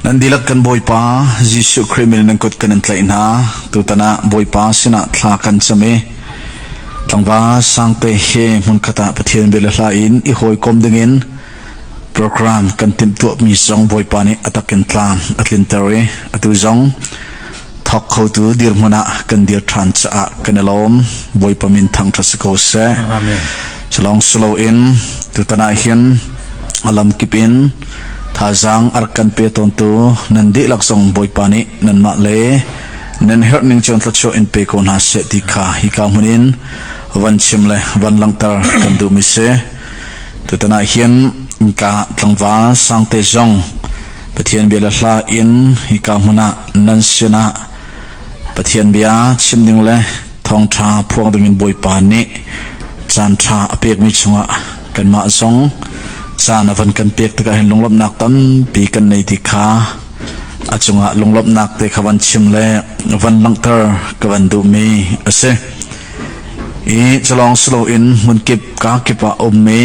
Nan dihlak kan Bawipa Jesuh Khrih min nan kut kan in tlaih hna. Tutan ah Bawipa sinah thla kan cam i tlangval sangte he hmunkhat ah Pathian bia le hla in i hawikom dingin program kan timhtuahmi zong Bawipa nih a takin tlam a tlinter i atu zong thawk khotu dirhmun ah kan dir ṭhan caah kan i lawm bawipa min thangṭha si ko seh culong silo in tutan ah hin alam kip in thazaang ar kan pe tawntu nan dihlak zong bawipa nih nanmah le nan herh ning chuan thlachuah in pe ko hna se ti kha hi ka hmun in van chim le van langter kan du mi se tutan ah hin ka tlangval sangte zong Pathian bia le hla in hika hmun ah nan sinah Pathian bia chim ding le thawngṭha phuang dingin Bawipa nih caan ṭha a pekmi chungah kanmah zong caan a van kan pek tikah hin lunglawmhnak tampi kan nei ti kha a cungah lunglawmhnak te kha van chim le van langhter ka van duhmi a si. I calong si loin hmunkip kaa kip ah a um i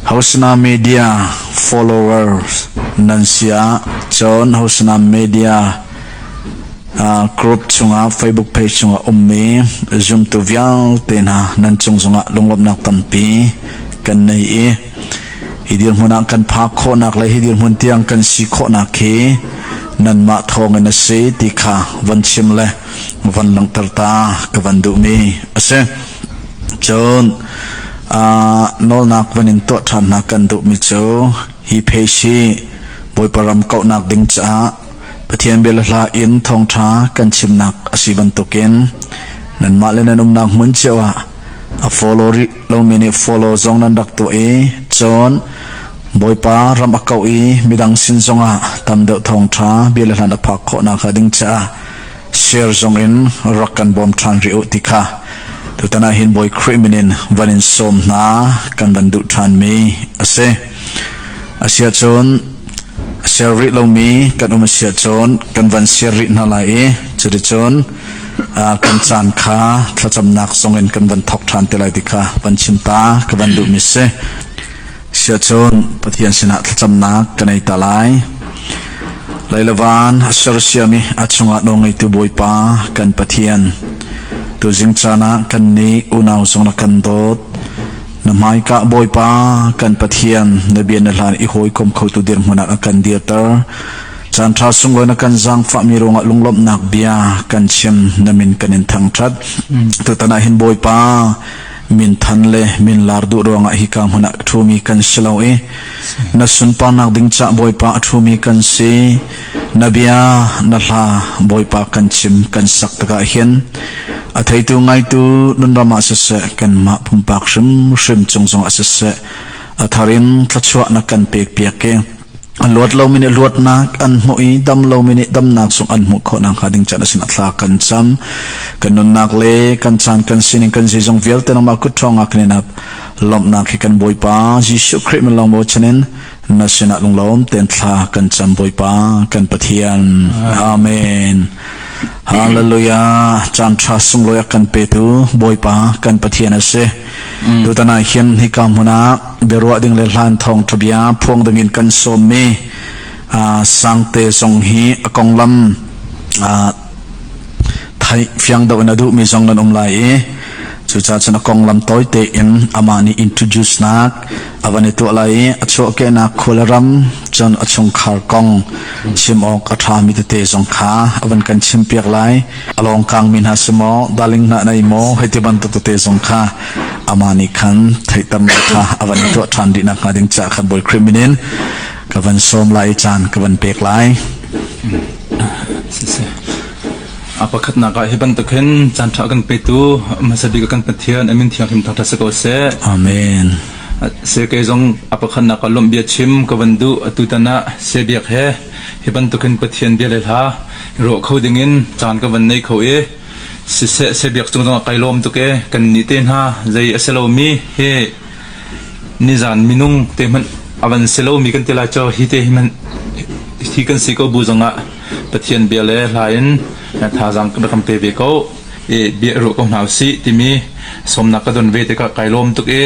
Hosana Media followers nan si ah cun Hosana Media group chungah Facebook page chungah ummi zumtu vialte hna nan cung zongah lunglawmhnak tampi kan nei i hi dirhmun ah kan phak khawhnak le hi dirhmun tiang kan si khawhnak hi nanmah thawngin a si ti kha von chim le von langhter ta ka van duhmi a si. Cun nawlnak van in tuah ṭhan hna kan duhmi cu hi phesh hi Bawipa ram kauhnak ding caah Pathian bia le hla in thawngṭha kan chimnak a si bantukin nanmah le nan umnak hmun cio ah a follow rih lomi nih follow zong nan rak tuah i cun Bawipa ram a kauh i midang sin zongah tam deuh thawngṭha bia le hla na phak khawhnak hnga ding caah share zong in rak kan bawm ṭhan rih u ti kha tutan ah hin Bawi Khrih min in van in sawm hna kan van duh ṭhanmi a si asia cun share rih lomi kan um asia cun kan van share rih hna lai i cuticun kan caan kha thlacamnak zong in kan van thok ṭhan te lai ti kha van chim ta ka van duhmi si Siacun Pathian sinah thlacamnak ka nei ta lai. Leilavan a sersiam i a chungah nawngeitu Bawipa kan Pathian. Tuzing caan ah kan nih unau zong na kan dawt. Na hmaikah Bawipa kan Pathian na bia na hlan i hawikom khotu dirhmun ah a kan dirter. Caan ṭha sunglawi na kan zaangfahmi ruangah lunglawmhnak bia kan chim na min kan in thangṭhat. Tutan ah hin Bawipa Minthan le minlar duh ruangah hika hmun ah ṭhumi kan si lo i na sunparnak ding cah Bawipa a ṭhumi kan si. Na bia, na hla Bawipa kan chim kan sak tikah hin a theitu ngaitu nunram ah siseh kanmah pumpak hrimhrim cung zongah siseh a thar in thluachuah na kan pekpiak i a luat lomi nih luatnak an hmuh i dam lomi nih damnak zong an hmuh khawh nakhnga ding can a sinah thla kan cam kan nunnak le kan caan kan sining kan zeizong vialte nangmah kut ṭhawngah kan in lawmhnak hi kan bawipa Jesuh Khrih min lawng bochan in na sinah lunglawm ten thla kan cam bawipa kan pathian amen hallelujah caan ṭha sunglawi a kan petu bawipa kan pathian a si Tutan ah hin hika hmun ah biaruah ding le hlan thawngṭha bia phuang ding in kan sawmmi uh, Sangte zong hi a konglam uh, thai fiang do in a duhmi zong nan um lai i cucaah cun a konglam tawite in amah nih introduce nak A van i tuah lai i a chuahkehnak khua le ram, cun a chungkhar kong chim awk a ṭhami tete zong kha a van kan chimpiak lai. A lawng kangmi hna si maw, darling hna nei maw, hei ti bantuk tete zong kha amah nih khan theihternak kha a van i tuah ṭhan dih nakhnga ding caah khan Bawi Khrih min in ka van sawm lai i caan ka van pek lai. Siseh. A pakhatnak ah hi bantuk hin caanṭha kan petu hmasa bik kan Pathian amin thianghlim thangṭhat si ko seh. Amen. Sekei zong a pakhatnak ah lawmh bia chim ka van duh atu tan ah sebiak he hi bantuk hin Pathian bia le hla rawh kho ding in caan ka van nei kho i siseh sebiak cung zong kai lawm tuk e kan ni te hna zei aselo mi he nizan minung te hmanh avan selo mi kan ti lai cho hi te hi man hi kan si ko bu zong ah Pathian bia le hla in thazaang ka ram pe ve ko i bia ruah ko hna usih timi sawmnak ka don ve tikah kai lawm tuk i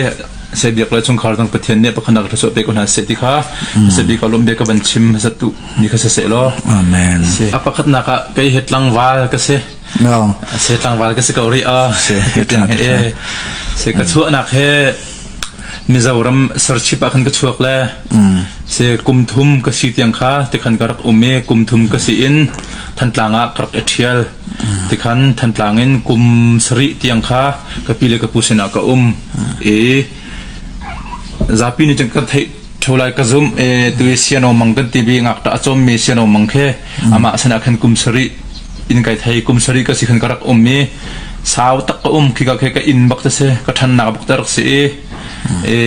sai biak le chungkhar dang pathian nih pakhanak thluachuah pe ko hna seh ti kha sai bika lawm bia ka van chim hasat tu ni kha saseh law amen a pakhatnak ah kei he tlangval ka se se tlangval ka se ko ri a se ka chuahnak he Mizoram serchip ah khan ka chuak le si kumthum ka si tiang kha tikhan ka rak um i kumthum ka si in Thantlang ah ka rak i ṭhial. Tikhan Thantlang in kum sarih tiang kha ka pi le ka pu sinah ka um i zapi nih cun ka theih Ṭhu lai ka zumh e tu i siano mang kan tivi ngakṭah a cawmmi siano mang khi amah sinah khan kum sarih in kai thei kum sarih ka si khan ka rak um i sau tak ka um khi ka khe ka inn bak te si ka ṭhannak bak te rak si i e,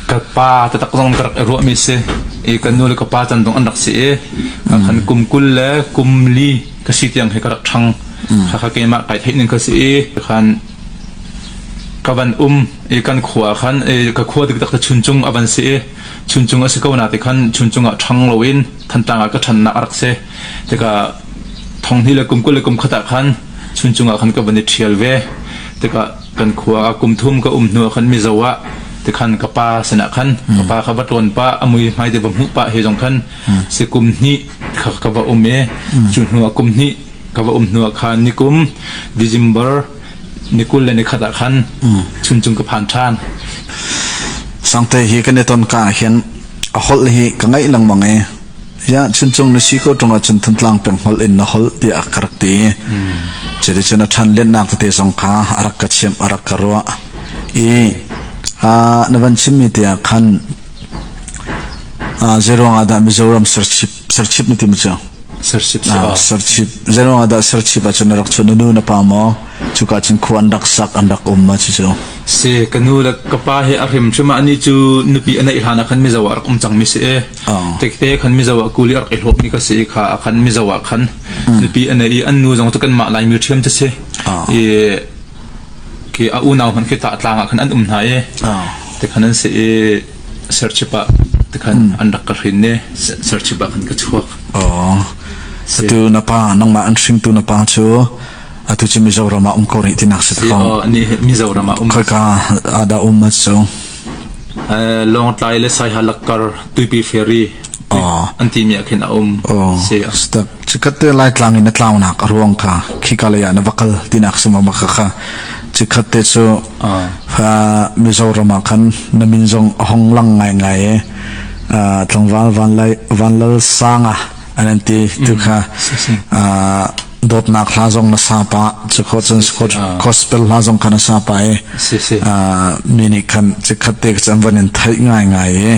ka pa te tak zong ka rak i ruahmi si i ka nu le ka pa can zong an rak si i ka khan kum kul le kum li ka si tiang he ka rak ṭhang kha kha keimah kai theih ning ka si i khan ka van um i kan khua ah khan i ka khua dikdak te chuncung a van si i chuncung a si ko na ti khan chuncung ah ṭhang lo in thantang ah ka ṭhannak a rak si tika thonghni le kum kul le kum khat ah khan chuncung ah khan ka van i ṭhial ve tika kan khua ah kum thum ka um hnu ah khan mizo ah ti khan ka pa sinah khan ka pa kha va tluan pa amui mai te va hmuh pa he zong khan si kum hni ka va um e chu hnu ah kum hni ka va um hnu ah khan nikum December ni kul le ni khat ah khan chuncung ka phan ṭhan sangte hi kan i ton ka ah hin a hol hi ka ngaih lengmang e ya chuncung na si ko ṭung ah cun thantlang peng hol in na hol tiah ka rak ti citi cun a ṭhan lennak tete zong kha a rak ka chiam a rak ka ruah i na van chimmi tiah khan zeruang ah dah Mizoram serchip Serchip na tim cu? Serchip si ah. Serchip. Zeiruang ahdah serchip ah cun na rak chuan? Na nu na pa maw? Cuka cun khua an rak sak, an rak um ma cucu? Si, ka nu le ka pa he a hrim chuma ani cu nupi a neih hlan ah khan mizo ah rak um cang mi si e. Tekte khan mizo ah kuli a rak i hlawp mi ka si i kha a khan mizo ah khan nupi a neih i an nu zong cu kan mah lai mi thiam te si. I ke a unau hman khi ta tlang ah khan an um hna i. Te khan an si i serchip ah tikhan an rak ka hrin ne serchip ah khan ka chuak oh atu na pa nangmah an hringtu na pa cu atu cu mizoram ah um ko rih tinak si ko ni mizoram ah um khaka ada um ma chu long tlai le sai halakar tuipi ferry oh anti mi akhin aum oh step Cikhat te Laitlang in a tlaunak a ruang kha khika lei ah na va kal tinak si ma kha kha cikhat te cu Mizoram ah khan na min zong a hong lang ngai ngai e tlangval van lal sanga an ti tu kha dawtnak hla zong na sapa cu kho cun gospel hla zong kha na sapa e mi nih khan cikhat te an van in theih ngai ngai e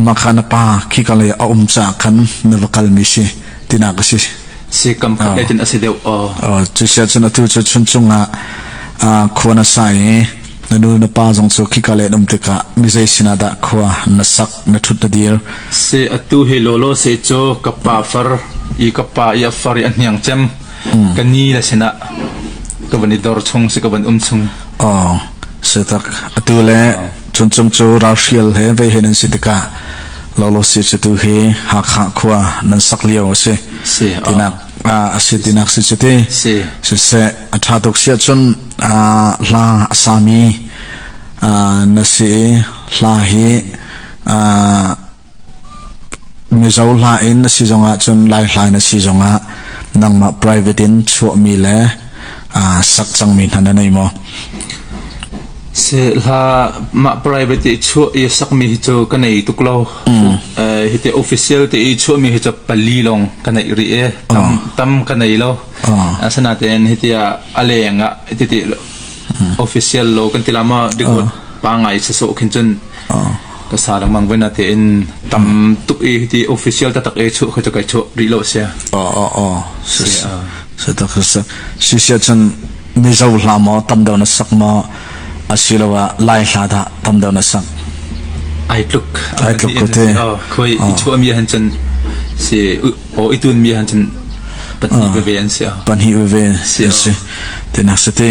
makha na pa khi ka lei a um caah khan na va kalmi si tinak a si si kam khat le tin a si deuh o cu sia cun atu cu chun chungah khua na sa i na nu na pa zong cu khi ka le um tikah mi zei sinah dah khua na sak na thut na dir se atu he lo lo se cho ka pa far i ka pa i far i ahniang cem ka ni la sinah ka van i dor chung si ka van um chung o se tak atu le Cun cung cu ralhrial he veihen an si tikah lawlawsi cu tu hi Hakha khua nan sak lio a si tinak a si tinak si cu ti siseh a ṭha tuk si ahcun hla a sami na si i hla hi Mizo hla in a si zong ahcun Laihla in a si zong ah nangmah private in chuahmi le aa sak cangmi hna na nei maw? Si hla mah private i chuah i sakmi hi cu ka nei tuk lo. Hi te official te i chuahmi hi cu pali lawng ka nei rih e. Tam tam ka nei lo. Asinain hi ti ah a leng ah hi ti official lo kan ti la ma dikot pa ngai sa so khin cun ka sa lengmang voi na te in tam tuk i ti official ta tak e chu khoi to kai chu ri lo sia o o o se tak se si sia chan mi zo hla mo tam deu na sak mo asilowa lai hla da tam deu na sak ai tluk ai tluk ko te khoi i chu mi han chan si o itun mi han chan panhi ve an sia panhi ve si si te nak se te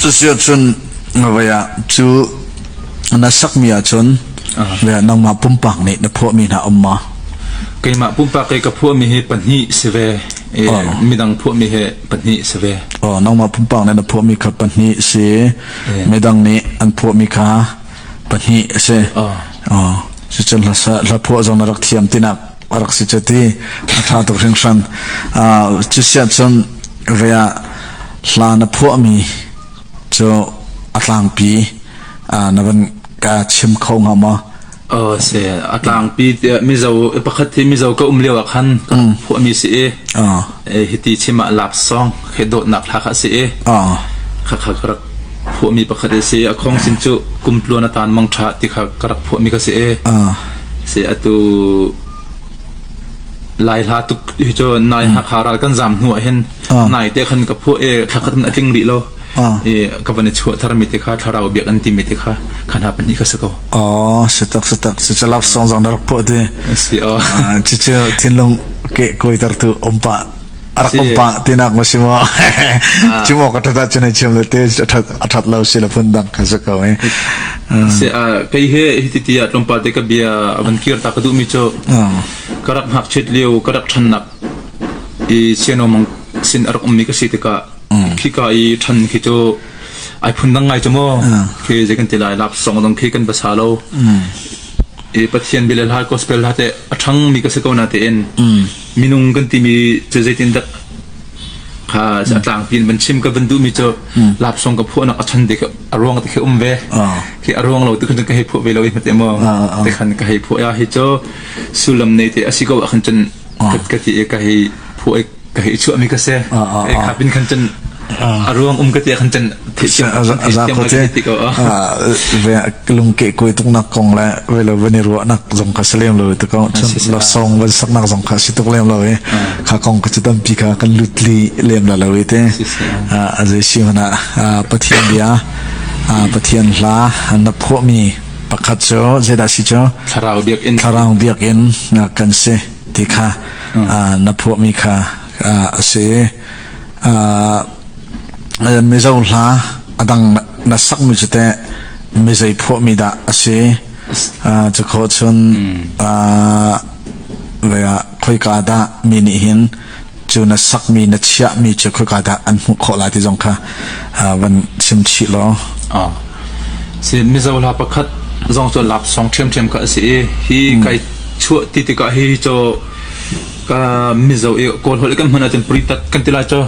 这是从 Ngavei ah cu na sakmi ahcun nangmah pumpak nih na phuahmi hna um maw? Keimah pumpak i ka phuahmi hi pahnih si ve. Midang phuahmi hi pahnih si ve. Nangmah pumpak nih na phuahmi kha pahnih si. Midang nih an phuahmi kha pahnih si. Cucun hla phuah zong na rak thiam tinak a rak si cu ti a ṭha tuk hringhran. Cu siah cun vea hla na phuahmi Cu a tlangpi na van ka chim kho hnga maw? Oh si a tlangpi tiah mizo pakhat hi mizo ka um lio ah khan ka phuahmi si i hiti chim ah lap song khe dawtnak hla kha si i kha kha ka rak phuahmi pakhat i si a khong sin cu kumtluan a tan mang tha ti kha ka rak phuahmi ka si i si atu Lai hla tuk hi cu nai Hakha ral kan zam hnu ah hin nai te khan ka phuah e thla khat a tling rih lo i ka van i chuah thar mi te kha thlarau biak an ti mi te kha khan ha pahnih kha si ko oh si tak si tak si chalap song zang rak phuah ti si oh cucu thinlung ke koi ter tu om pa a rak ka pa tinak ma si maw cu maw ka ṭhat cun ai chiam le te a ṭhat a ṭhat lo si le phun dang ka se ko eh se kai he hiti ti a tlompa te ka bia a van kir ta ka du mi cho ka rak hak chet liu ka rak than nak i siano mang sin arak um mi ka si te ka khi ka i than khi to ai phun dang ngai chamo ke je kan te lai lap song dong khi kan basa lo e pathian bile la gospel la te athang mi ka se ko na te en minung kan timi cu zeitin dak kha a tlangpi in van chim ka van duhmi cu lap song ka phuah nak a chan dik a ruang te um ve khi a ruang lo tu kan ka hei phuah ve lo hmat mo te khan ka hei phuah ya hi cho sulam nei te asi ko a khan chan ka ti ka hei phuah ka hei chua mi ka se e kha pin khan chan A ruang um ka tiah khan can lungke kuai tuknak kong le velo van i ruahnak zong ka si lem lo te ko la song van saknak zong ka si tuk lem lo i kha kong ka ci tampi kha kan lut li lem la lo i te a zai si hona pathian bia pathian hla na phuami pakhat cu zeda si cu thlarau biak in kan si ti kha na phuami kha a si mizo hla a dang na sakmi cu teh mizei phuahmi dah a si cu kho chun khoika dah mi nih hin cu na sakmi na chiahmi cu khoika dah an hmuh khawh lai ti zong kha van chim chih law si mizo hla pakhat zong cu lak song ṭhiamṭhiam ka a si i hi kai chuah ti tikah hi cho ka mizo i kawl hol kan hmun ahcun puri tak kan tila cho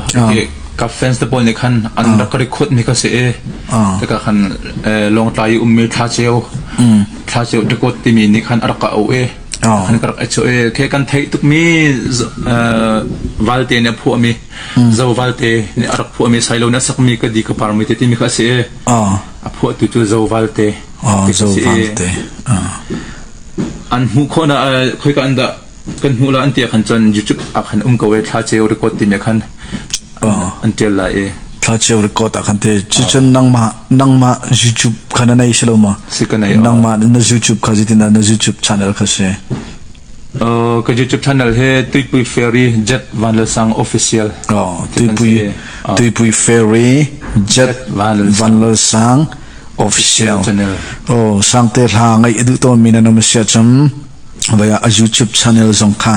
ka fans te pawl nih khan an rak record mi ka se e te ka khan long tlai um me thla cheu thla cheu record ti mi nih khan arak ka au e han ka rak acho e khe kan thei tuk mi valte ne phu mi zo valte ne arak phu mi sailo na sak mi ka di ka par mi te ti mi ka se e a phu tu tu zo valte zo valte an mu khona khoi ka anda Kan hmuh lai an ti ahkhan cun YouTube ahkhan um ko e thlaceo record timi ahkhan an tial lai e. Thlaceo record ahkhan te cucun nangmah nangmah YouTube kha na nei si lo ma Si ka nei. nangmah na YouTube kha zitin na YouTube channel kha si Uh, ka YouTube channel he Tuipui Ferry Jet Van Lal Sang official. oh tuipui Ah. tuipui ferry jet Jet Van Lal Sang. Van Lal Sang official Channel. oh sang te hla ngai edu to mi na nom sia chum Vai ah a YouTube channel zong kha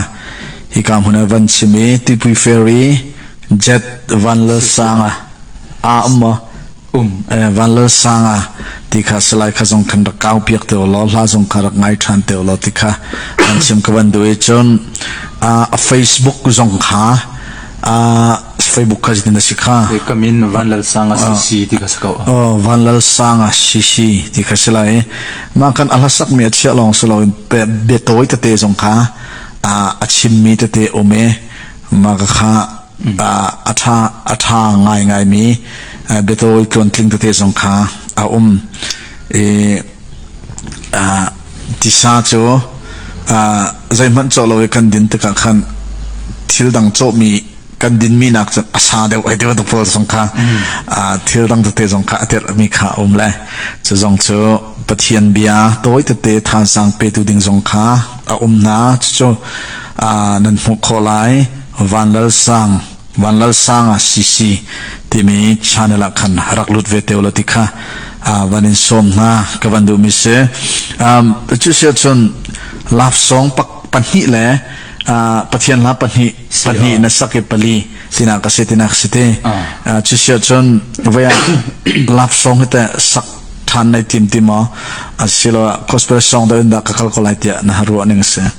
hika hmun ah van chim i Tipui Fair i Jet Vanlalsanga a um maw um eh, Vanlalsanga ti kha salai kha zong khan rak kau piak te law hla zong kha rak ngai than te law ti kha an chim ka van duh i cun a Facebook zong kha a Facebook kha zeitin a si kha kam in Van Lal Sang a si ti kha si ko Van Lal Sang a si si ti kha si lai ma kan ahlasak mi a chia long si lo be toy te te zong kha a chim mi te te ome ma ka kha a tha a tha ngai ngai mi be toy tluan tling te te zong kha a um e Tisa cu zeihmanh cawh lo i kan din tikah khan thil dang cawhmi kan dinmi nak cu a sa deuh ai ti bantuk pawl zong kha thil dang tete zong kha a tirhmi kha a um le cu zong cu Pathian bia tawi tete thansang petu ding zong kha a um hna cucu nan hmuh khawh lai Van Lal Sang Vanlalsanga CC timi channel ah khan rak lut ve te ula ti kha van in sawm hna ka van duhmi si cu si ahcun love song pahnih le pathian hla pahnih pahnih na sak i pali sinak ka si tinak si te cu si ahcun vai ah love song hi te sak ṭhan nei tim ti maw asilo gospel song da in dah ka kal ko lai tiah na ha ruah ning a si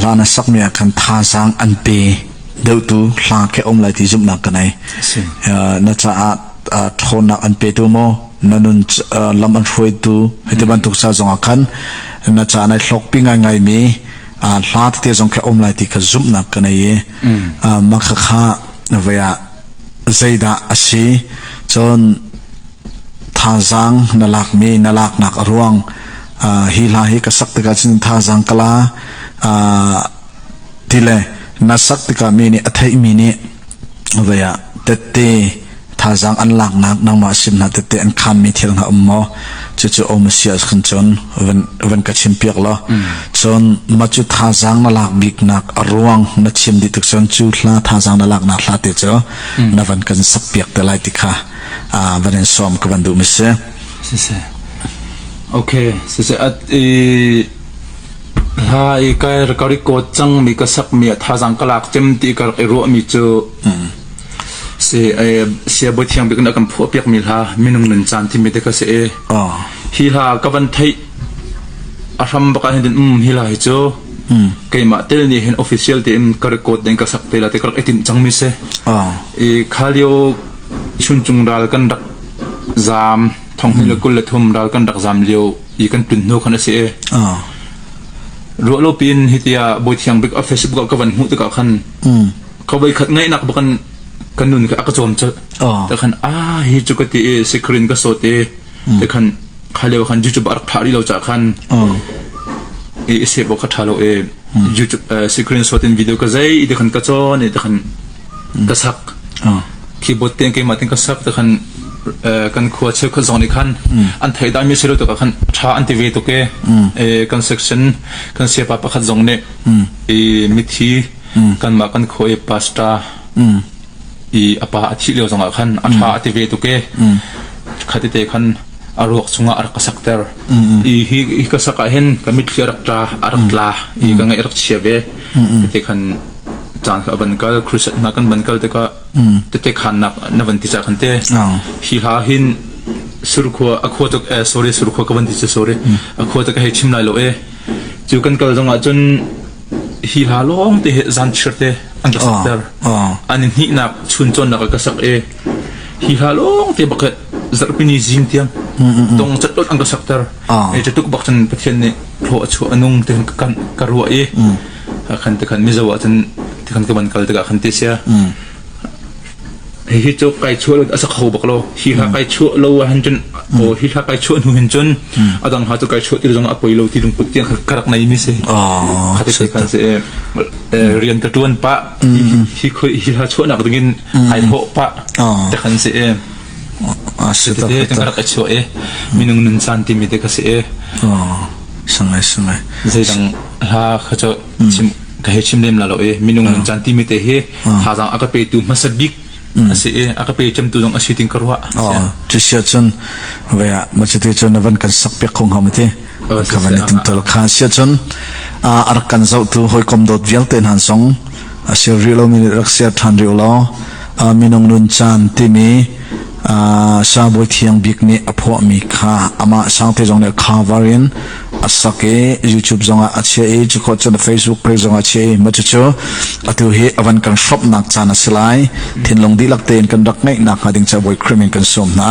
hlan a sakmi ah khan thazaang an pe deuhtu hla khi a um lai ti zumhnak ka nei na caah ṭhawnnak an petu maw na nun lam an hruaitu hiti bantuk sa zong ah khan na ca nai hlokpi ngaingai mi hla tete zong khi um lai ti ka zumhnak ka nei i maka kha vaya zeidah a si cun thazaang na lakmi na laknak a ruang hi hla hi ka sak tikah cun thazaang kala ti le na sak tikah mi nih a theihmi nih vaya tette thazaang an laknak nangmah sim hna tette an khanmi thil hna um maw cucu om sia khan chon van ka chim piak lo chon ma chu thazaang na lak bik nak a ruang na chim di tuk chon chu hla thazaang na lak na hla te chu na van kan sak piak te lai ti kha van in sawm ka van duh mi si sise okay sise at i ha i kai ka record chang mi ka sak mi tha jang ka lak chem ti ka i ro mi chu si e sia bo thiang bik na kan pho piak mi la minung nun chan thi mi te ka se e hi la ka van thei a hram baka hin um hi la hi chu keima tel ni hin official te in ka record den ka sak te la te ka etin chang mi se i khalio Chunchung ral kan rak zaam. Thong hnih le kul le thum ral kan rak zaam lio i kan tlun hnu khan a si i, ruah lo piin hiti ah Bawi Thiang Bik ah Facebook ah ka van hmuh tikah khan ka voi khat ngaihnak bak in ka nun kha a ka cawm cawlh. Te khan a hi cu ka ti i sikrin ka sawt i te khan kha leo khan YouTube a rak thah rih lo ca khan i se bo kha tha lo i YouTube sikrin sawt in video ka zei te khan ka cawn i te khan Basak keyboard ten keimah tin ka sak te khan kan khua cheukhat zong nih khan an thei dai mi si lo tuk khan tha an ti ve tuk e kan section kan sepa pakhat zong nih i mithi kanmah kan khua i pastor i apa a thih lio zong ah khan a tha a ti ve tuk e khati te khan a ruak chungah a rak ka sakter i hi hi ka sak ah hin ka mitthli a rak tla a rak tla i ka ngaih a rak chia ve te khan caan kha a van kal crusade hna kan van kal tikah tete khannak na van ti cha khan te hi hla hin surkhua a khua tuk e sorry surkhua ka van ti chu sorry a khua tuk hei chim lai lo e chu kan kal zong ah cun hi hla long te he zan chir te an ka sakter an ni nak chun chon nak ka sak e hi hla long te bakhat zarpini zing tiang tong chat an ka sakter e chetuk bak chan pathian ne hlo achu anung te kan karwa e Hakhan tikhan Mizo ah cun tikhan ka van kal tikah khan ti sia. Hihi cu kai chuah lo a sak hau bak lo. Hi ha kai chuah lo ah hin cun o hi ha kai chuah hnu hin cun a dang ha cu kai chuah ti zong ah a poi lo ti lungput tiang ka rak nei mi si. Oh, Hati kai kan se eh, rian ka tuan pa hi khoi hi ha chuah nak ding in ai tho pa Oh. takhan se eh Ah, si ta, Tete ka rak chuah e minung nun san ti mi te ka se e oh. zeidang hla kha cu chim ka he chim nem la lo i minung nan chan ti mi te hi thazaang a ka pe tu hmasa bik asi i a ka pe cem tu zong asi ting ka ruah tu sia chun ve a ma chete chun na van kan sak piak khong ham ti ka van itum tol kha sia chun a ar kan zau tu hoi kom dot vial te nan song a sir rih lomi nih rak ser ṭhan rih law minung nun caan timi sangbawi thiang bik nih a phuahmi kha amah sangte zong nih khavar in a sak i YouTube zongah a chia i cuko cun Facebook page zongah a chia i macu cu atu hi avan kan hromnak caan a si lai thinlung dihlak tein kan rak ngeih nakhnga ding ca buai krim in kan sawm hna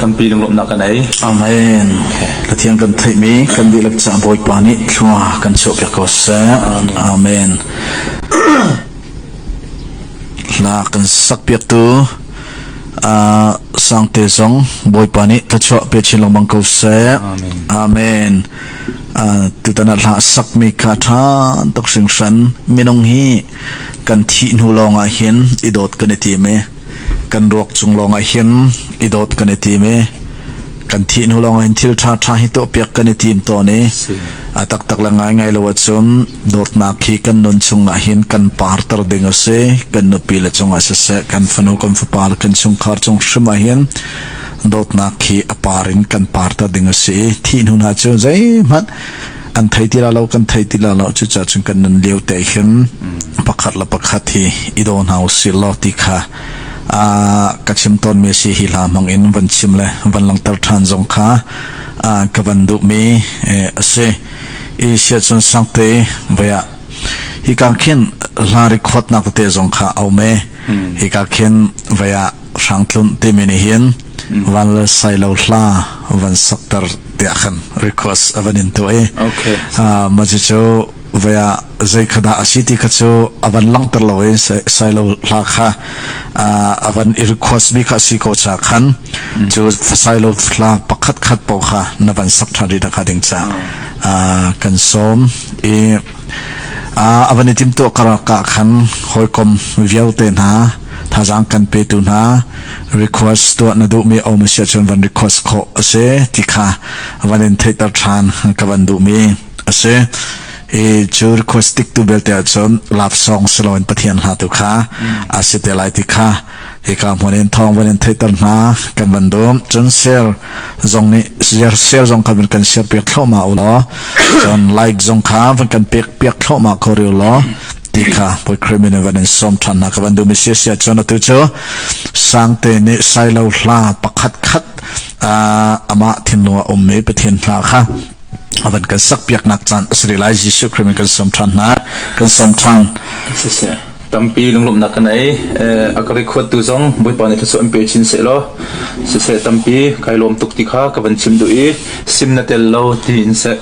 tampi lunglawmhnak kan ei amen lathiang kan theihmi kan dihlak ca bawipa nih thlua kan chuahpiak ko seh amen na kan sakpiaktu Sangte zong Bawipa nih thluachuah pe chin lengmang ko seh. Amen. tutan ah hla sakmi ka tha tuk hringhran minung hi kan thih hnu lawngah hin i dawt kan i tim i kan ruak cung lawngah hin i dawt kan i tim i kan thih hnu lawngah hin thil tha tha hi tuah piak kan i tim tawn i a taktak le ngai ngai lo ahcun Dawtnak hi kan nun chungah hin kan parter ding a si. Kan nupi le cungah siseh, kan fanu, kan fapa le kan chungkhar cung hrim ah hin dawtnak hi a par in kan parter ding a si i thih hnu hna cu zeihmanh an thei ti la lo kan thei ti la lo cucaah cun kan nun lio te hin pakhat le pakhat hi i daw hna u si law ti kha ka chim tawnmi si hi hla hmang in van chim le van langhter ṭhan zong kha ka van duhmi a si. Asia cun sang te vai ah hika khin hla rekhawtnak tete zong kha a um i hika khin vai ah hrang tlun timi nih hin van le sailo hla van sakter tiah khan request a van in tu i Okay. Ah, ma cu cu vai ah zei kha dah a si ti kha cu a van langter lo i sai- sailo hla kha a van i request mi kha si ko cha khan cu fasailo hla pakhat khat po kha na van sak tha ri kha ding cha kan som i a van i tim to karaka khan hoikom vialte hna thazang kan pe tu hna request to na du mi om sia chun van request kho ase ti kha van in theiter than ka van du mi A si. Hi cu request tik tu belte ahcun love song si loin Pathian hla tu kha a si te lai ti kha hika hmun in thawng van in theihter hna kan van dum cun share zong nih share share zong kha kan share piak thloma u law cun like zong kha van kan pek piak thloma ko riu law ti kha poi crimin van in som than hna ka van dum sia sia cun atu cu sangte nih sailo hla pakhat khat amah thinlung a um mi Pathian hla kha a van kan sak piaknak caan a si rih lai Jesuh Khrih in kan sawm ṭhan hna kan sawm ṭhan tampi lunglawmhnak kan ei a ka record tu zong bawipa nih thluachuah an pe chin se law siseh tampi kai lawm tuk ti kha ka van chim duh i sim na tel lo ti in se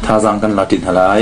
thazaang kan la ṭin hna lai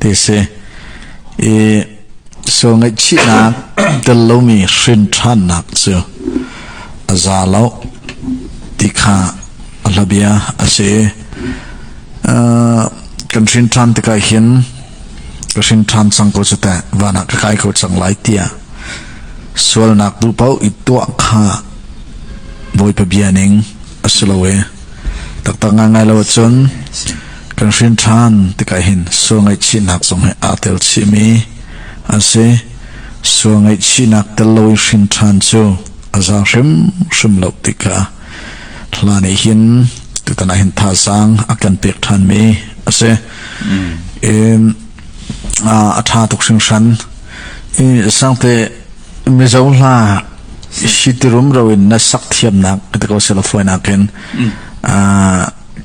ti a si. I sual ngaihchihnak tel lomi hrinṭhannak cu a za lo ti kha a hlabia a si. Uh, kan hrinṭhan tikah hin ka hrinṭhan cang ko cu teh van ah ka kai ko cang lai tiah sualnak duh paoh i tuah kha Bawipa bia ning a si lo e. Taktak ngaingai lo ahcun kan hrin ṭhan tikah hin sual ngaihchihnak zong he aa tel chihmi an si. Sual ngaihchihnak tel lo i hrin ṭhan cu a za hrimhrim lo tikah hla nih hin tutan ah hin thazaang a kan pek ṭhanmi a si. In a ṭha tuk hringhran. I sangte Mizo hla sitirum ro in na sak thiamnak ka ko sela fuainak in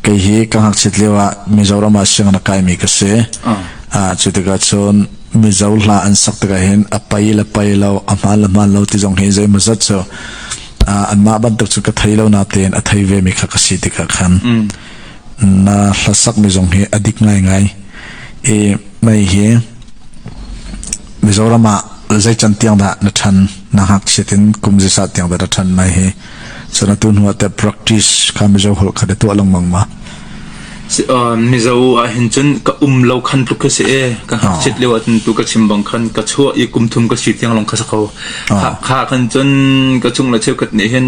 kei hi ka ngakchit lio ah Mizoram ah siang na kai mi ka si cu tikah cun Mizo hla an sak tikah hin a pai le pai lo a hmaan le hmaan lo ti zong hi zei maw zat cu anmah bantuk cu ka thei lo na tein a thei ve mi kha ka si tikah khan na hlasak mi zong hi a dik ngai ngai i mai hi Mizoram ah zeican tiang dah na ṭhan? Na ngakchiat in kum zeizat tiang dah na ṭhan mai hi? Cun atu hnu ah teh practice kha Mizo holh kha na tuah lengmang ma? Mizo ah hin cun ka um lo khan tluk ka si e ka ngakchiat leo ahcun tu ka chim bang khan ka chuah i kumthum ka si tiang long kha sa kho kha khan cun ka chung le cheukat nih hin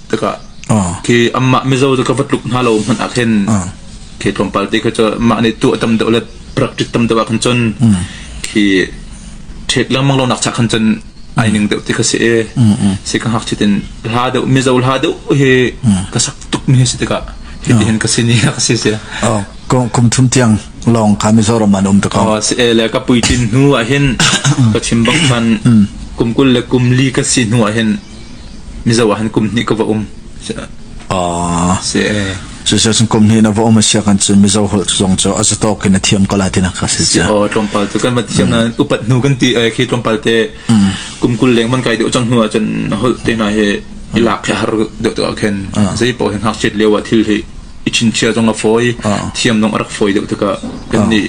tikah khi anmah mizaw cu ka va tluk hna lo hmanh ah khin khi tlawmpal te kha cu mah nih tu a tam deuh le prak tit tam deuh ah khan cun khi ṭhek lengmang lo nak chak khan cun ai ning deuh ti ka si e si ka hak chitin hla deuh mizo hla deuh hi ka sak tuk mi si tikah hi ti hin ka si ni ka si si kum kum thum tiang long kha mizoram an um ta ko si e le ka pui tin hnu ah hin ka chim bang khan kum kul le kum li ka si hnu ah hin Mizo ah han kum hnih ka va um. Cucu kum hnih na va um siak an cu Mizo holh zong cu a zatok in a thiam ko la tina ka si cia. O tlompal tu kan ma thiam na upat nu kan ti khi tlompal te kum kul leng man kai de chang hnu chan holh te na he ilak khi har de to khen zai po hen hak chet lewa thil hi ichin chia jong la foi thiam nong arak foi de to ka kan ni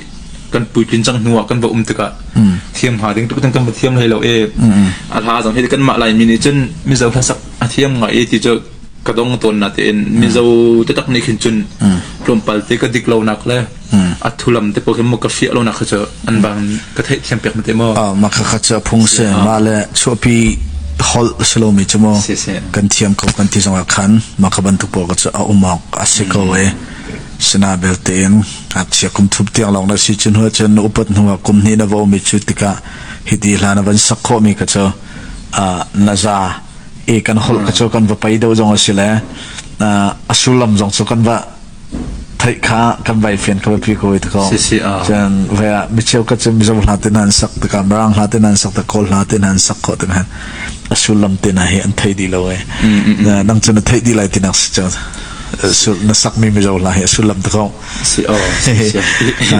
kan puitlin cang hnu ah kan va um tikah mm. thiam ha ding tuk kan va thiam hlei lo e mm. a hla zong hi kan mah lai mi nih cun mizo hlasak a thiam ngai e ti cu ka dong ton na te in mizo te tak ni khin cun tlom pal te ka dik lo nak le a thulam te po khin mo ka fia lo nak kha an bang ka thei thiam pek ma te mo ma kha kha cha phung se ma le chuapi hol salomi chu mo kan thiam ko kan ti zong khan ma ka ban tu po ka a umok a si ko e sina belte in ngakchia kum thup tiang lawng na si cu hnu cun upat hnu ah kum hnih na va um i cu tikah hi ti hlan a van sak khawhmi ka cu na za e kan holh ka cu kan va pei deuh zong a si le a sullam zong cu kan va theih kha kan vai fian ka pi ko ta ko chan ve micheu ka chim mizo hla tin han sak ta kam rang hla tin han sak ta kol hla tin han sak ko tin han a sullam tin hi an thei di lo e nang chun a thei di lai tinak si chau na sakmi mizo hna hi a sullam te ko si aw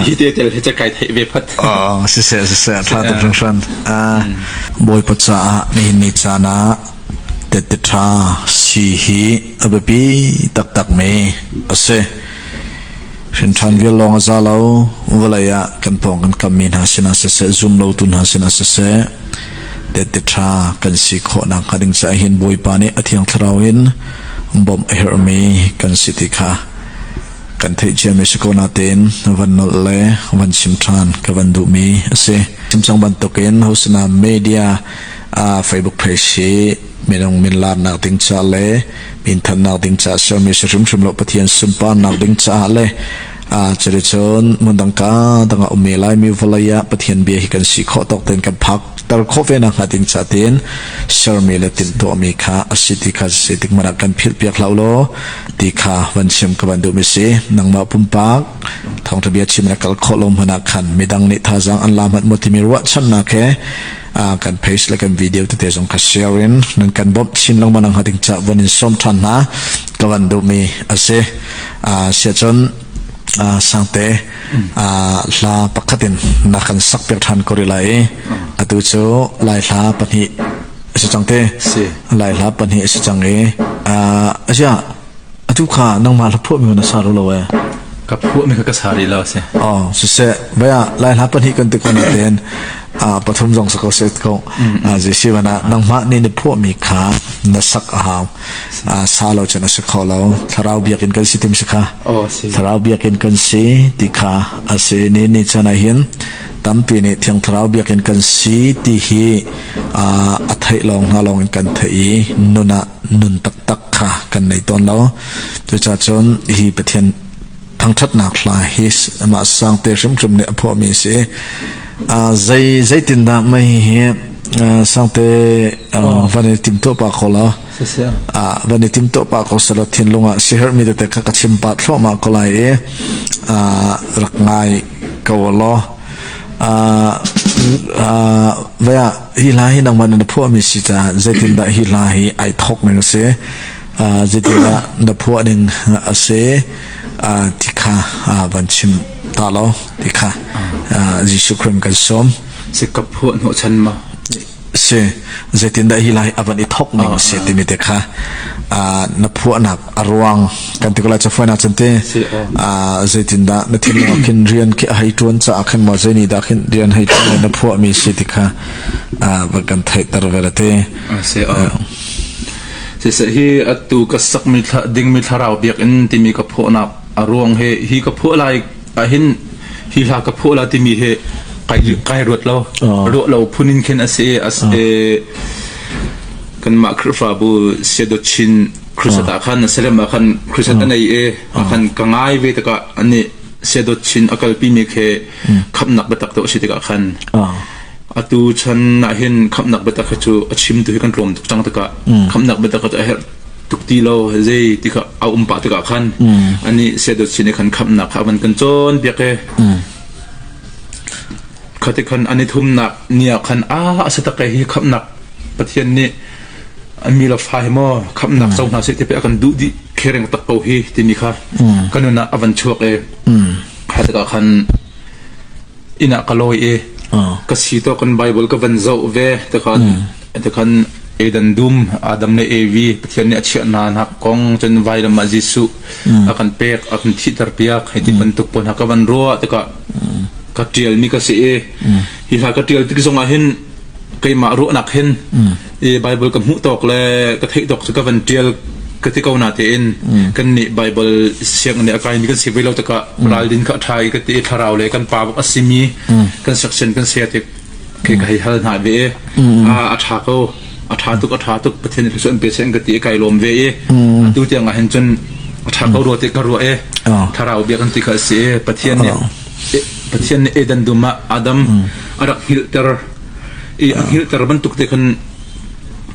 hi te tel he kai thei ve phat a si se si se tha ta chung shan bawipa caah ni ni chana te te tha si hi ababi tak tak me ase shin than vial long za lo valaya kan pong kan kam mi hna sina se se zoom lo tu hna sina se se te te tha kan si kho na ka ding sa hin boipa ne athiang tharau in bawmh a herhmi kan si ti kha kan theih ciami si ko natein van nolh le van chim ṭhan ka van duhmi a si chimcang bantukin hosina media uh, facebook page hi minung min laarnak ding ca le min thannak ding ca xiaomi si hrimhrim lo pathian sunparnak ding ca le a cari cun mundang ka danga ume lai mi volaya pathian bia hi kan si kho tok ten kan phak tar khawh ve nak hnga ding ca tin sermi le tin tuahmi kha a si ti kha si tik hmanah kan philhpiak hlah law ti kha van chim ka van duh mi si nangmah pumpak thawngtha bia chim na kal khawh lo hmanah khan midang nih thazang an la mat mo timi ruah chan na ke kan page le kan video te te zong ka share in nan kan bom chin lo manang ha ding cha von in som than na ka van duh mi ase sia chon sangte hla pakhat in na kan sakpiak ṭhan ko rih lai i atu cu lai hla pahnih a si cang te lai hla pahnih a si cang i a ziah atu kha nangmah hla phuah mi na sa lo lo e ka phuah mi ka sa rih lo si oh siseh vaya lai hla pahnih kan ti ko na ten pathum zong sa ko se ko a si si wana nangmah ni ni phuah mi kha na sak a hau sa lo cun a si kho lo thlarau biak in kan si tim si kha thlarau biak in kan si ti kha a si ni ni chan ah hin tampi nih thiang thlarau biak in kan si ti hi a theih lawng hna lawng in kan theih i nun ah nun taktak kha kan nei tawn lo cuca cun hi pathian thangṭhatnak hla hi mah sang te hrimhrim nih a phuahmi a si. zei zeitindah mei hi sangte van i tim to pa ko la van i tim to pa ko sala thinlung ah siher mi te ka ka chim pa thloma ko lai e rak ngai ko lo vaya hi hla hi nang man na phua mi si ta zeitin da hi hla hi ai thok ning se zeitin da na phua ning ase ti kha van chim ta lo ti kha Jesuh Khrih kan sawm si ka phuah hnawh chan ma si zeitindah hi lai avan i thok ning si timi te kha na phuahnak a ruang kan ti ko lai chafuan chan te zeitindah na thin lung khin rian khi hei tuan ca khin mo zeini da khin rian hei tuan na phuah mi si ti kha va kan theiter vera te siseh hi atu ka sakmi dingmi thlarau biakinn timi ka phuahnak a ruang he hi ka phuah lai ahin hi hla ka phuah la timi he kai kai ruat lo ruah lo phunin khen ase as kan ma khrifabu sedochin krisata khan selem khan krisata nei e khan ka ngai ve taka ani sedochin akalpi me khe khapnak betak to si tika khan Atu chan ahhin khamhnak biatak hi cu a chimtu hi kan tlawm tuk cang tikah khamhnak biatak hi cu a herh tuk ti lo. Zei ti kha a um pah tikah khan anih siadawtchin nih khan khamhnak kha a van kan cawnpiak i khati khan an i thumnak ni ah khan a asatak hi khamhnak Pathian nih a mi le fa hi maw khamhnak co hna seh ti pei a kan duh dih khereng tak ko hi timi kha ka nun ah a van chuak i kha tikah khan inn ah ka lawi i ka si tawk in Baibal ka van zoh ve tikhan tikhan Eden dum Adam le Evi Pathian nih a chiah hna nak kong cun vairam ah Jesuh a kan pek a kan thihter piak hei ti bantuk pawl hna ka van ruah tikah ka tial mi ka si i hi hla ka tial tik zong ah hin keimah ruahnak hin i Bible ka hmuh tawk le ka theih tawk cu ka van tial ka ti ko na tein kan nih Bible siang nih a kai ni kan si ve lo takah ral din ka trai ka ti thlarau le kan pa buk asimi kan section kan se tik ke ka hei hal na ve a a tha ko a tha tuk a tha tuk pathian ka son pe sen ka ti kai lom ve i tu tiang ah hin chun a tha ko ro ti ka ro e thlarau bia kan ti ka si pathian nih Pathian nih Eden dum ah Adam a rak hngilhter i a hngilhter bantuk te khan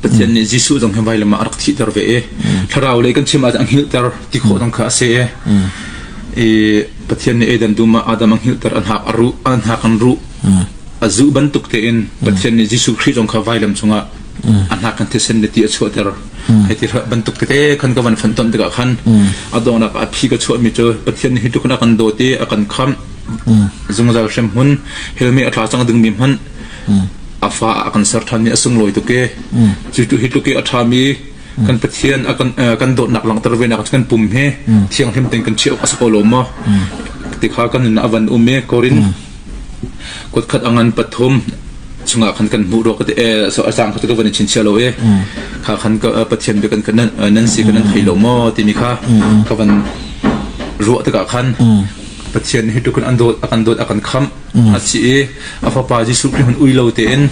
Pathian nih Jesuh zong hi vailam ah a rak thihter ve i thlarau lei kan chim ahcun a hngilhter ti khawh dang kha a si i Pathian nih Eden dum ah Adam a hngilhter a hnak a ruh a hnak an ruh a zuh bantuk tein Pathian nih Jesuh Khrih zong kha vailam chungah a hnak kan thisen le ti a chuahter Hei ti hrat bantuk tete khan ka van fan ton tikah khan a dawnak a phi ka chuahmi cu Pathian nih hi tluk in a kan dawt i a kan khamh zungzal hrem hmun helmi a tla cang dingmi hmanh a fa a kan ser ṭhan i a sunglawi tuk i cu hi tluk i a ṭhami kan Pathian a kan kan dawtnak langhter venak kan pum hi thianghlim tein kan chiah awk a si ko lo maw ti kha kan nun a van um i Korin Kutkhat a ngan pathum chungah khan kan hmuh rua ka ti a cang kha kan in chinchia lo i kha khan pathian bia kan nan si kan nan thei lo maw timi kha ka van ruah tikah khan pathian hi tukun an dawt akan dawt akan kham a si i a fapa Jesuh Khrih hun ui lo tein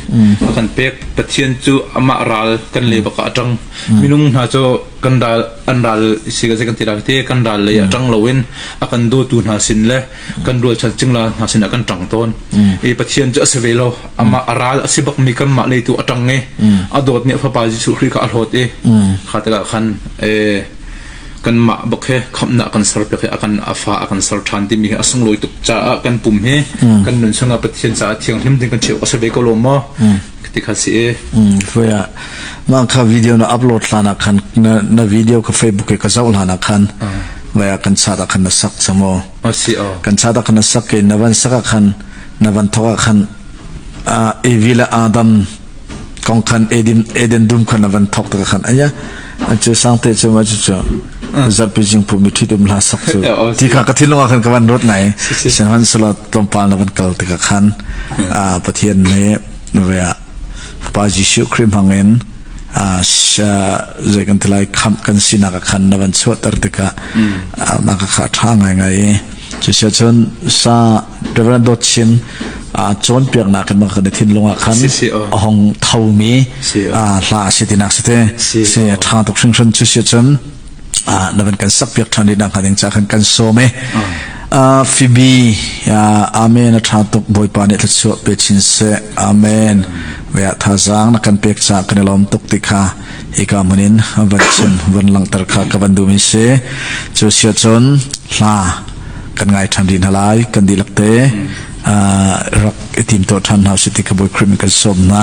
akan pek pathian cu amah ral kan le baka atang minung hna cu kan ral an ral si ga kan ti ral te kan ral lei atang loin akan dawtu hna sin le kan rual chat cingla hna sin ah kan tang tawn e pathian cu ase ve lo ama aral asi bak mi kan mah le tu atang nge adot ni fapa jesu khri ka ahlot e kha taka khan e kan ma bak he khamna kan ser pe he akan afa akan ser than ti mi asung loi tuk cha kan pum he kan nun sanga pathian cha thiang hlim ding kan cheu ase ve ko lo mo ti kha si e foya ma kha video na upload lana khan na video ka facebook ka zau lana khan vai ah kan chat ah khan na sak cham aw asi o kan chat ah khan na sak ke na van sak ah khan na van thok ah khan evi le adam kong khan eden eden dum khan na van thok ka khan aya an chu sang te chu ma chu chu zat pi jing pu mi thi dum la sak chu ti kha ka thil lung khan ka van rot ngai san han sala tom pal na van kal te ka khan a pathian ne ve Pa Jesuh Khrih hmangin zei kan ti lai khamh kan sinak ah khan na van chuahter tikah na ka kha ṭha ngaingai i cusia cun sa Reverend Dawt Chin cawnpiaknak in kan i thinlung ah khan a hong thomi hla a si tinak si te si a ṭha tuk hringhran cusia cun ah na van kan sakpiak ṭhan dih nakhnga ding caah khan kan sawm e uh, Phoebe amen a ṭha tuk bawipa nih thluachuah pe chin se amen ve ah thazang na kan pek ca kan i lawm tuk ti kha ika munin van chim van langter kha ka van dumi se cu sia cun hla kan ngai ṭhan din halai kan dilak te rak i tim to ṭhan hna si ti ka boi krim kan sawm na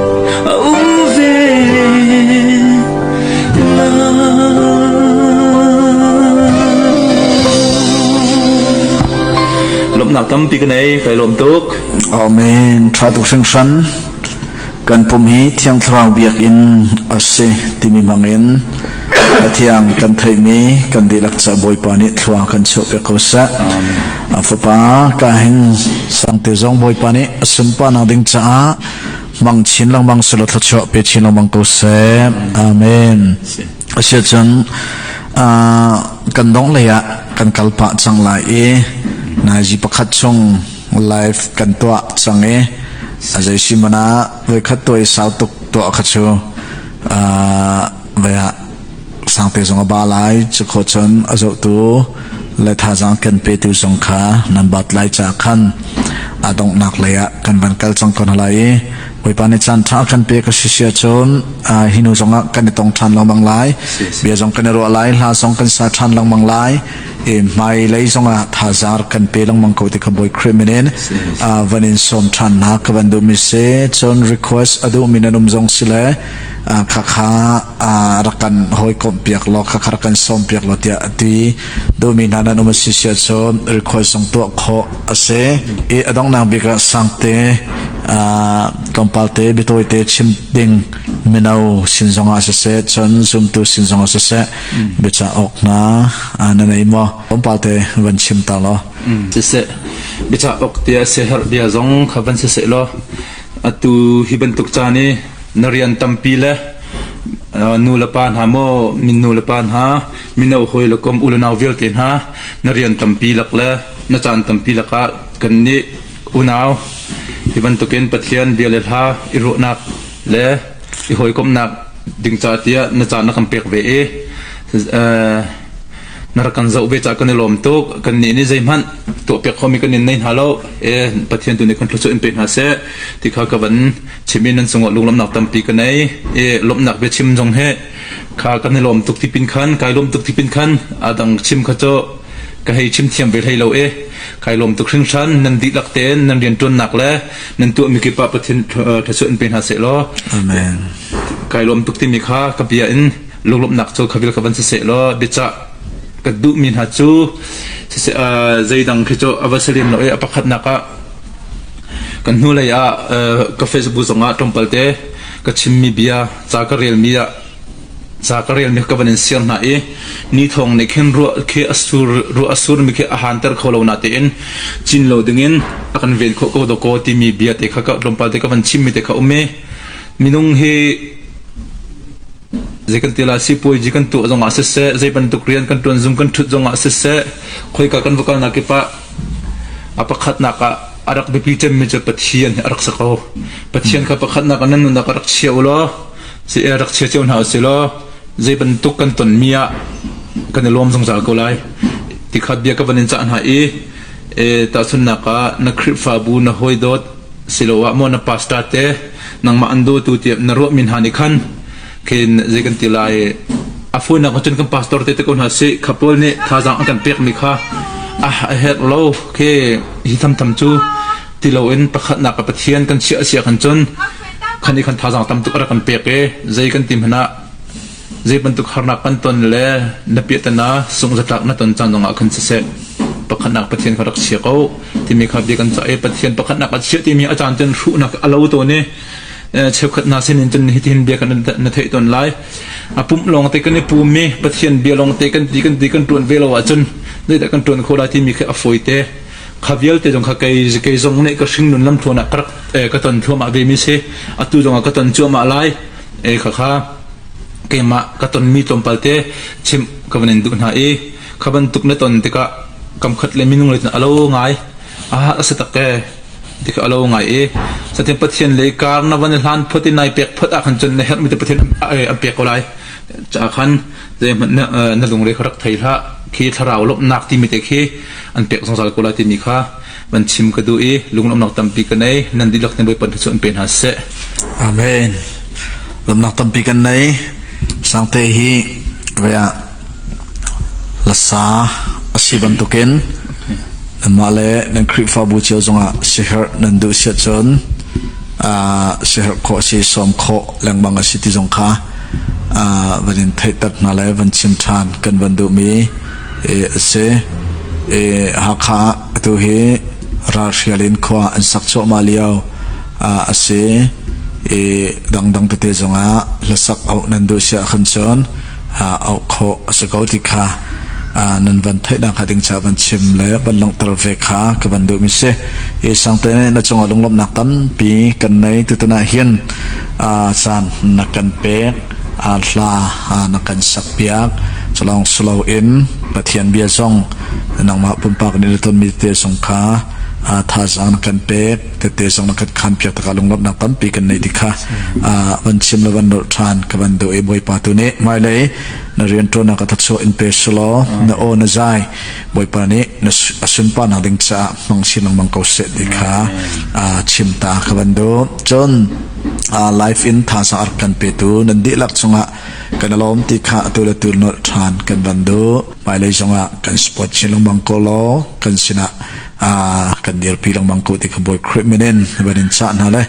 lawmhnak tampi ka nei kai lawm tuk amen tha tuk sing san kan pum hi thiang thlarau biak in ase timi mangin athiang kan thei mi kan dilak cha bawipa ni thlua kan cheu pe ko sa a fapa ka hin sangte zong bawipa ni asumpa na ding cha mang chin lengmang silo thluachuah pe chin lengmang ko seh amen asia cun kan dong lei ah kan kal pah cang lai i naizi pakhat chung live kan tuah cang i azai si mana voi khat to i sau tuk tuah kha chu vai ah Sangpe zong a ba lai. Cukhaw cun a zohtu le thazaang kan petu zong kha nan bat lai caah khan aa donghnak lei ah kan van kal cang ko hna lai i Bawipa nih caan ṭha kan pe ka si sia cun hi hnu zong ah kan i tong ṭhan lengmang lai bia zong kan i ruah lai hla zong kan sa ṭhan lengmang lai i hmai lei zong ah thazaar kan pe lengmang ko ti kha Bawi Khrih min in van in sawm ṭhan hna ka van duhmi si cun request a duhmi nan um zong si le khakha rak kan hawikomh piak law khakhar kan sawm piak law tiah a ti duhmi hna nan um a si sia cun record zong tuah khawh a si i a dongnang bik ah sangte tlawmpal te bitawi te chim ding mino sin zong ah siseh cun zumtu sin zong ah siseh biaca awk na na nei maw tlawmpal te van chim ta law siseh biaca awk tia se herh bia zong kha van siseh law Atu hi bantuk caan i na rian tampi le nulepa hna maw min nulepa hna mino hawi le kom u le nau vialte hna na rian tampi lak le na caan tampi lakah kan nih unau hi bantukin pathian bia le hla i ruahnak le i hawikomhnak ding ca tiah na caan na kan pek ve i na rak kan zoh ve caah kan i lawm tuk kannih nih zeihmanh tuahpiak khomi kan in nei hna lo e pathian tu nih kan thluachuah in pe hna seh ti kha ka van chim in nan cungah lunglawmnak tampi ka nei e lawmhnak bia chim zong he kha kan i lawm tuk tipin khan kai lawm tuk tipin khan adang chim kha cho ka hei chim thiam ve hlei lo e kai lawm tuk hring hran nan dihlak tein nan riantuannak le nan tuah mi kipah pathin thluachuah in pe hna se law amen kai lawm tuk timi kha ka bia in lunglawmhnak cu khavil ka van siseh law biacah ka duhmi hna cu zeidang khi cu a va si lem lo i a pakhatnak ah kan hnu lei ah ka facebook zong ah tlawmpal te ka chimmi bia ca ka relmi ah ca ka relmi ka van in siar hna i ni thong nih khin ruah khi asur ruah asur mi khi a hanter kho lo na te in cin lo dingin a kan ven kho ko do ko timi bia te kha ka tlawmpal te ka van chimmi te kha um mi minung hi Zeikantiah ah sipuazi kan tuah zongah siseh, zei bantuk rian kan ṭuan zung kan ṭhut zongah siseh, khoika kan va kalnak kip ah a pakhatnak ah a rak biapi cemmi cu Pathian a rak si ko. Pathian kha pakhatnak ah nan nunnak a rak chia u law, si e rak chia cio hna u si law, zei bantuk kan tonmi ah kan i lawm zungzal ko lai. Ti kha bia ka van in cah hna i, e, tahchunnak ah na Khrihfabu na hawidawt, siloah maw na pastor te, nangmah an dawtu tiah na ruahmi hna nih khan khin zei kan ti lai a funak cun kan pastor te te ko hna si khapawl nih thazaang an kan pekmi kha ah a herh lo ke hi thamtham cu ti lo in pakhatnak ka pathian kan chiah sia kan cun khan i khan thazaang tam tuk ara kan pek e zei kan ti hmana Zeibantuk harnak kan ton le na piahtana sungzatlak na ton caan zongah khan siseh pakhatnak Pathian kha rak chia ko timi kha bia kan cah i Pathian pakhatnak a chia timi a caan cun hruhnak a lo tawn i cheukhat hna sin in cun hitin bia kan na theih ton lai a pumh lawng te kan i pum mi Pathian bia lawng te kan ti kan ti kan tuan ve lo ahcun zeidah kan tuan kho lai timi khi a foi te kha vialte zong kha kei kei zong nih ka hringnun lam thawn ah ka rak ka ton thluamah ve mi si atu zong ah ka ton cuahmah lai ei khakha keimah ka tonmi tlawmpal te chimh ka van in duh hna i kha bantuk na ton tikah kamkhat le minung le a lo ngai a a si tak e ti ka alo ngai i satin pathian le kar na van hlan phot in nai pek phot a khan chun na her mi te pathian an pek ko lai cha khan ze man na lungre kharak thei hla khi thlarau lop nak ti mi te khi an pek zong zal ko la ti mi kha Van chim ka duh i lunglawmnak tampi ka nei. Nan dihlak nih Bawipa cu an pe hna seh. Amen. Lawmnak tampi kan nei. Sangte hi vea lasa asi bantukin nanmah le nan Khrihfabu cio zongah siherh nan duh siat cun uh, siherh khawh si sawm khawh lengmang asi ti zong kha uh, van in theihtak hna le van chim ṭhan kan van duhmi Hakha ah atu hi ralhrial in khua an sak cuahmah lio a si i dangdang tete zongah hlasak auh nan duh si ahkhan cun auh khawh a si ko ti kha nan van theihnak hnga ding caah van chim le van langhter ve kha ka van duhmi si. Sangte nih na cungah lunglawmhnak tampi kan nei. Tutan ah hin caan na kan pek hla na kan sakpiak culawng siloin Pathian bia zong nangmah pumpak nih na tonmi te zong kha thazaang na kan pek tete zong na kan khan piak taka lunglawmhnak tampi kan nei ti kha van chim le van nolh ṭhan ka van do e bawipa tu nih hmailei na rian ṭuannak ka thachuah in pe silo na aw na zai Bawipa nih a sunparnak ding caah hmang sin lengmang ko seh ti kha chimta ka van du cun life in thaza ark kan petu nan dihlak chungah kan alawm ti kha atu le tu nolh than kan van du hmailei zongah kan sport chin lengmang ko law kan sinah kan dirpi lengmang ko ti kha bawi khrih minin van in cha hna le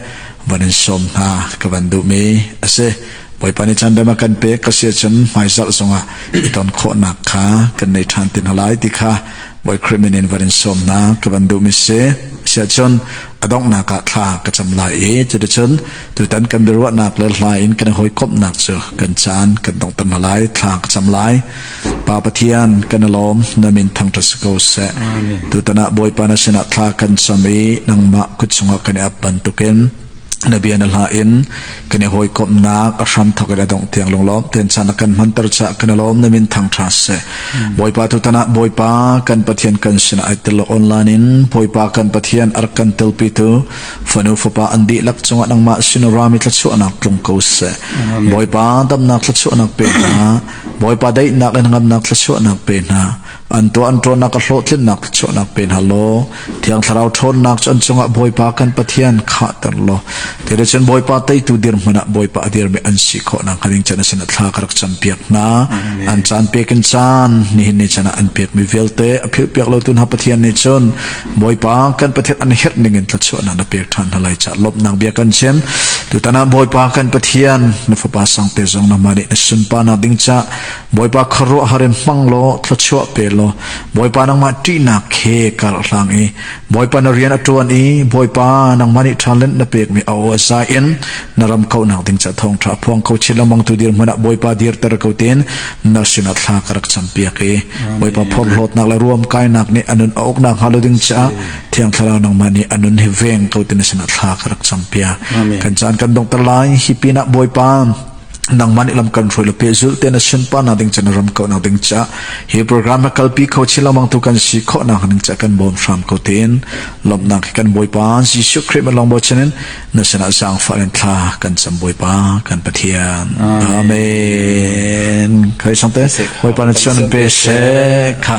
van in som hna ka van duh mi asi Bawipa nih chan a kan pek ka si cun hmaizarh zongah i ton khawhnak kha kan nei ṭhan ti hna lai ti kha Bawi Krimin in van in sawm hna ka van duhmi si siah cun a donghnak ah thla ka cam lai i cuticun tutan kan biaruahnak le hla in kan hawikomhnak cu kan caan kan dong tam lai thla ka cam lai pa pathian kan alawm na min thang ṭa si ko seh tutan ah Bawipa na sinah thla kan cam i nangmah kut chungah kan i ap bantukin na bia na hla in kan i hawikomnak a hram thok in a dongh tiang lunglawm ten chan a kan hmanter ca kan i lawm na min thang tha se bawipa tu tanah bawipa kan pathian kan sinah ai tel online in bawipa kan pathian ar kan telpi tu fanu fapa an di lak chunga nangma sinu rami tlachuanak tlung ko se bawipa damnak tlachuanak pe hna bawipa daihnak in ngamnak tlachuanak pe hna An tuah an ṭuannak a hlawhtlinnak chuahnak pe hna law Thiang Thlarau ṭhawnnak cu an cungah Bawipa kan Pathian khahter law ti le cun Bawipa teitu dirhmun ah Bawipa a dirmi an si khawhnak hnga ding cun a sinah thla ka rak campiak hna. An caan pek in caan nihin ni chan ah an pekmi vialte a philhpiak lotu hna Pathian nih cun Bawipa kan Pathian an herh ning in thluachuahnak na pek ṭhan hna lai ca lawmhnak bia kan chim tutan ah Bawipa kan Pathian na fapa sang te zong namah nih na sunparnak ding ca Bawipa khuaruahhar in hmang law thluachuah pe law Bawipa nangmah ṭihnak he kar hlang i Bawipa na rian a ṭuan i Bawipa nangmah nih ṭhalennak na pekmi a aw za in na ram kauhnak ding ca thawngṭha a phuang kho chin lengmang tu dir hmanh ah Bawipa dirter ko tein na sinah thla ka rak campiak i Bawipa phorhlawtnak le ruam kainak nih a nun a uk nak hnga lo ding caah Thiang Thlarau nangmah nih a nun hi veng ko ti na sinah thla ka rak campiak kan caan kan dongter lai hi pinah Bawipa nangman ilam kan hroi le pe zul te na sin pa na ding chen ram ko na ding cha hi program ma kalpi kho chi lamang tu kan si kho na ning cha kan bom sham ko tin lom na kan boi pa Jesu Christ long bo chenin na sana sang fa len thla kan sam boi pa kan pathian amen khai sang te boi pa na chan pe she kha